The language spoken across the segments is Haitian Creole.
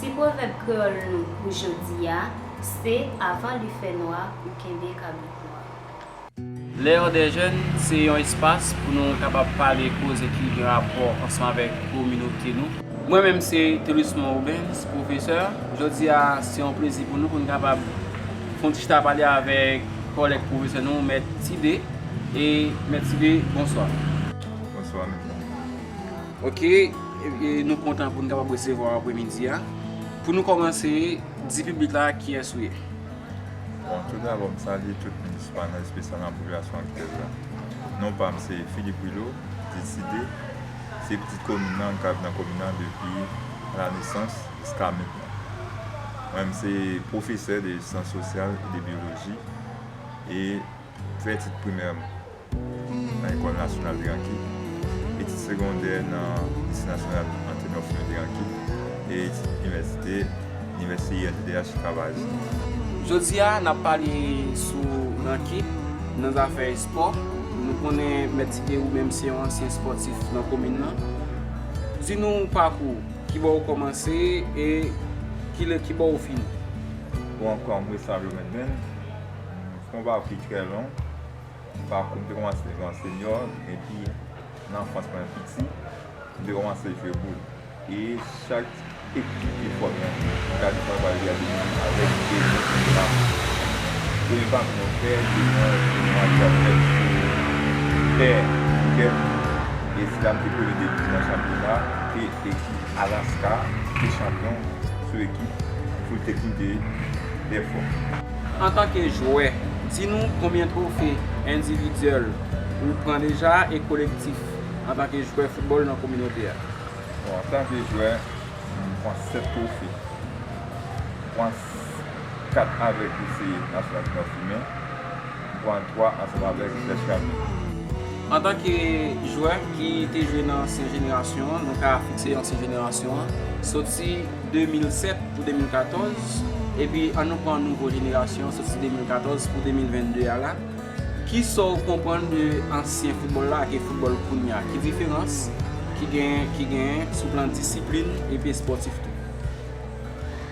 Ti pwovèb kreyòl nou pou jodi a se avan li fè nwa ou kenbe kabrit nwa. L'heure des jeunes se yon espas pou nou kapab pale koze ki gen rapò ansanm avèk kominote nou. Mwen menm se Thelusmond Rubens, pwofesè. Jodi a se yon plezi pou nou pou nou kapab fè yon ti chita pale avèk kòlèg pwofesè nou, Mèt Tide. E Mèt Tide, bonswa. Bonswa mèt. Ok nou kontan pou nou kapab resevwa ou apre midi a. Pou nou kòmanse, di piblik la kiyès ou ye? Bon, tout dabò m salye tout moun sou panèl espesyal nan popilasyon aktyèl la. Non pa m se Philippe Willo, dit Sidé. Se pitit komin nan, m ka viv nan komin nan depi a la nesans jiska mentnan. Mwen m se pwofesè de syans sosyal e de byoloji e m fè etid primè m. nan Ecole Nationale de Ranki, etid segondè nan Lycée National Anténor Firmin de Ranki e etid inivèsite Inivèsite UNDH Travail. Jodi a, n ap pale sou Ranki nan zafè espò. Nou konnen Mèt Tite ou menm se yon ansyen espòtif nan komin nan. Di nou pakou ou, kibò ou kòmanse e kile kibò ou fini? Bon, kòm Restavio Mendens, m fè yon pakou ki trè long. Pakou m te kòmanse jwe an senyò epi nan anfans mwen piti m te kòmanse jwe boul e chak ekip ki fò nan gade mwen pral gade yo avèk de men pa m de men pa m mwen fè de men an jwe yon atak fèt sou tè kè m e sila m te premye de ekip nan chanpyona e ekip Alaska te chanpyon sou ekip Full Technique de Dèfò. Antanke jwè, di nou konbyen twofe endividyèl ou pran deja e kolektif antanke jwè foutbòl nan kominote a? Bon, antanke jwè, m pran 7 twofe. M pran 4 avèk lise Nasyonal Ti Nò Fimen. 3 a 3 atravè Vitès Kane. Antanke jwè ki te jwe nan ansyen jenerasyon an, nou ka fikse yon ansyen jenerasyon an soti 2007 pou 2014, epi an nou pran nouvo jenerasyon an soti 2014 pou 2022 a la, ki sa w konprann de ansyen foutbòl la ak foutbòl kounye a? Ki diferans ki genyen sou plan disiplin epi espòtif tou?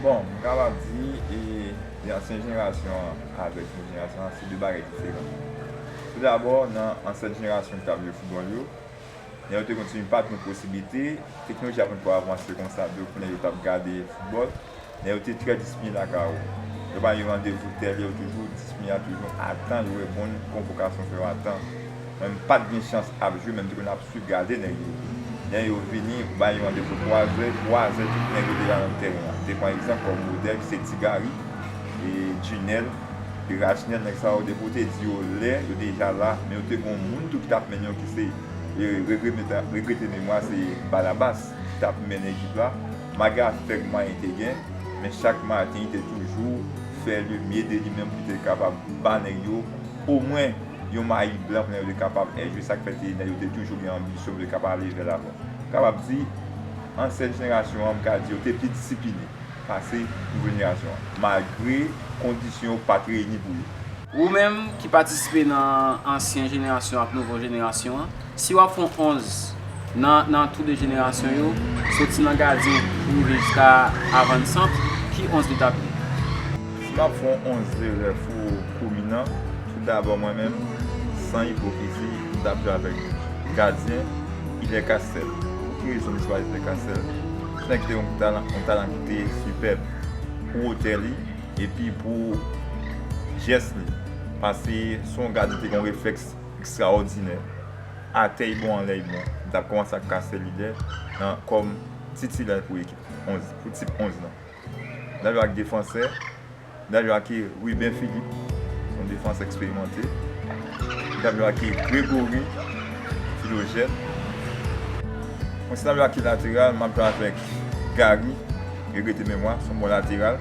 Bon, m kapab di, e ansyen jenerasyon an. avèk nou jenerasyon an se 2 bagay diferan. Tou dabò nan ansent jenerasyon ki tap jwe foutbòl yo, lè yo te konn timoun pat gen posiblite, teknoloji a potko avanse konsa pou yo konnen yo tap gade foutbòl, men yo te trè disipline lakay yo. Yo bay yon randevou tèl yo toujou disipline a toujou atan yo reponn konvokasyon fè yo atan. Mwen m pat gen chans ap jwi men m te konn ap swiv gade nèg yo lè yo vini bay yon randevo 3 zè, 3 zè tout nèg yo deja nan tèren an te pran egzanp kòm modèl ki se Ti Gari, Djinèl, Rajnèl nèg sa yo depi w te di yo lè yo deja la men yo te gon moun tou ki tap mennen yo ki se regrete memwa se Balabas ki tap mennen ekip la malgre ak fèk mwayen te gen men chak maten li te toujou fè le mye de li menm pou l te kapab ba nèg yo omwen yon mayi blan plen yo te kapab èjwe sa k fè te nèg yo te toujou gen anbisyon pou yo te kapab ale vè lavan. M kapab di ansyen jenerasyon an m ka di yo te pi disipline pase nouvo jenerasyon an malgre kondisyon yo pa t reyini pou yo. Ou menm ki patisipe nan ansyen jenerasyon ak nouvo jenerasyon an. Si w ap fè yon 11 nan tou de jenerasyon yo, soti nan gadyen pou rive jiska avan sant, ki 11 li t ap ye? Si m ap fè yon 11 de rèf ou kouminan, tou dabò mwen menm, san ipokrizi, m t ap jwe avèk gadyen ki de Kastel. Pou ki rezon m chwazi de Kastel? Ti nèg te yon talan ki te sipèb pou wotè li epi pou jès li. Pase se yon gadyen ki te gen yon reflèks ekstraòdinè, atè y bon anlè y bon, m t ap kòmanse ak Castel Ydè nan kòm titilè pou ekip 11, pou tip 11 lan. M t ap jwe ak defansè, m t ap jwe ak Ruben Philippe, se yon defansè eksperimante, m t ap jwe ak Grégory Philogène, m si t ap jwe ak lateral, m ap jwe avèk Garry, regrete memwa, se yon bon lateral.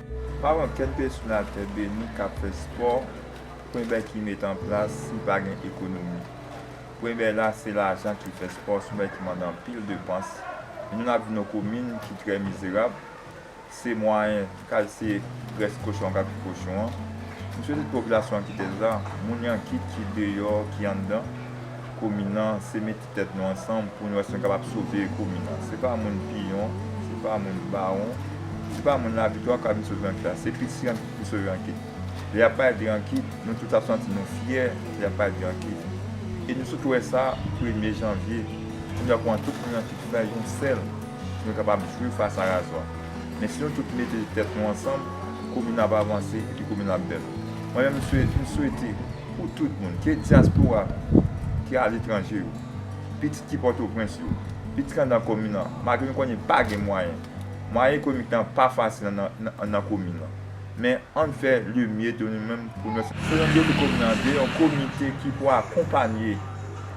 Pa wè anpil peyi sou latè beni kap fè spò pwenbè ki met anplas si pa gen ekonomi pwenbè la se lajan ki fè spò sonbè ki mande anpil depans nou nap viv nan komin ki trè mizerab se mwayen kal se grès kochon an kap fè kochon an m swete tout popilasyon an kite sa moun yan kit ki deyò ki anndan komin an se mete. tèt nou ansanm poun wè si nou kapab sove komin nan se pa moun piyon se pa moun bawon se pa moun laviktwa kap vin sove ranki la se pitit ranki ki vin sove ranki lè yap pale de ranki nou tout ap santi nou fyè lè yap pale de ranki e nou sot wè sa premye janvye nou ta pran tout moun ranki pou bay yon sèl pou nou kapab jwe fas a razwa men si nou tout mete tèt nou ansanm komin nan ap avanse epi komin nan ap bèl mwen menm m swete. Pou tout moun, ke dyaspora ki aletranje yo, pitit ki Pòtoprens yo, pitit anndan komin an, malgre nou konnen pa gen mwayen, mwayen ekonomik nan pa fasil anndan komin nan, men ann fè le mye de nou menm pou nou. Fè yon dele komin an, de yon komite ki pou akonpanye.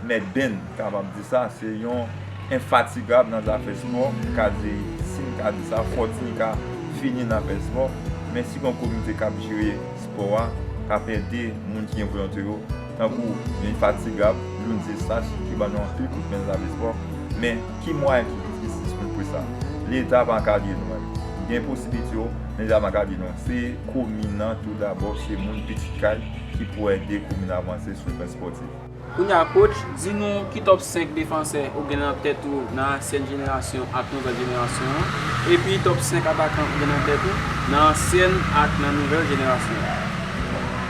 Mèt Ben m kapab di sa, se yon enfatigab nan zafè spò, m ka di, si m ka di sa, fòtini ka fini nan afè spò, men si gon komite k ap jere spò a, k ap ede moun ki gen volonte yo, tankou yon enfatigab Lourens Eustache ki ban nou anpil kout men nan zafè spò, men ki mwayen ki pi jistis pou nou fè sa? Leta ap ankadre nou, gen posiblite yo, men leta ap ankadre nou, se komin nan tou dabò, se moun pitit kay ki pou ede komin nan avanse sou plan spòtif. Kounye a coach, di nou ki top 5 defansè ou gen nan tèt ou nan ansyen jenerasyon ak nouvèl jenerasyon an, epi top 5 atakan ou gen nan tèt ou nan ansyen ak nan nouvèl jenerasyon an.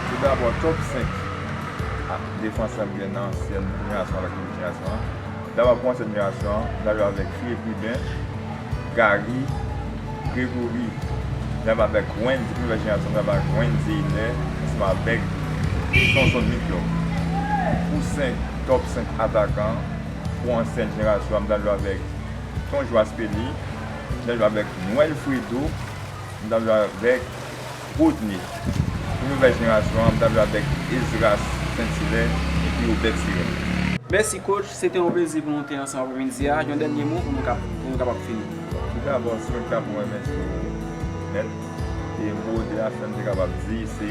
Tout dabò, top 5 defansè m gen nan ansyen jenerasyon ak nouvèl jenerasyon an. Dam ap kòmanse admirasyon an, li pral jwe avèk Philippe Rubin, Garry, Grégory, li ap avèk Wendy, premye vèsyon gason li ap avèk Wendy Eyler ansanm avèk Sonson Victor. Pou 5 top 5 atakan pou ansyen jenerasyon an, li pral jwe avèk Ton Joaspeli, li pral jwe avèk Noël Fredo, li pral jwe avèk. Rodney, Pou nouvèl jenerasyon an, m ta jwe avèk Esdras Saint-Hilaire epi Obed Sirène. Mèsi coach, se te yon plezi pou nou te ansanm apremidi a, yon dènye mo pou nou kapab fini. Tout dabò si mwen te ka pran yon men sou ou mèt, e mo 2 a sèm te kapab di se.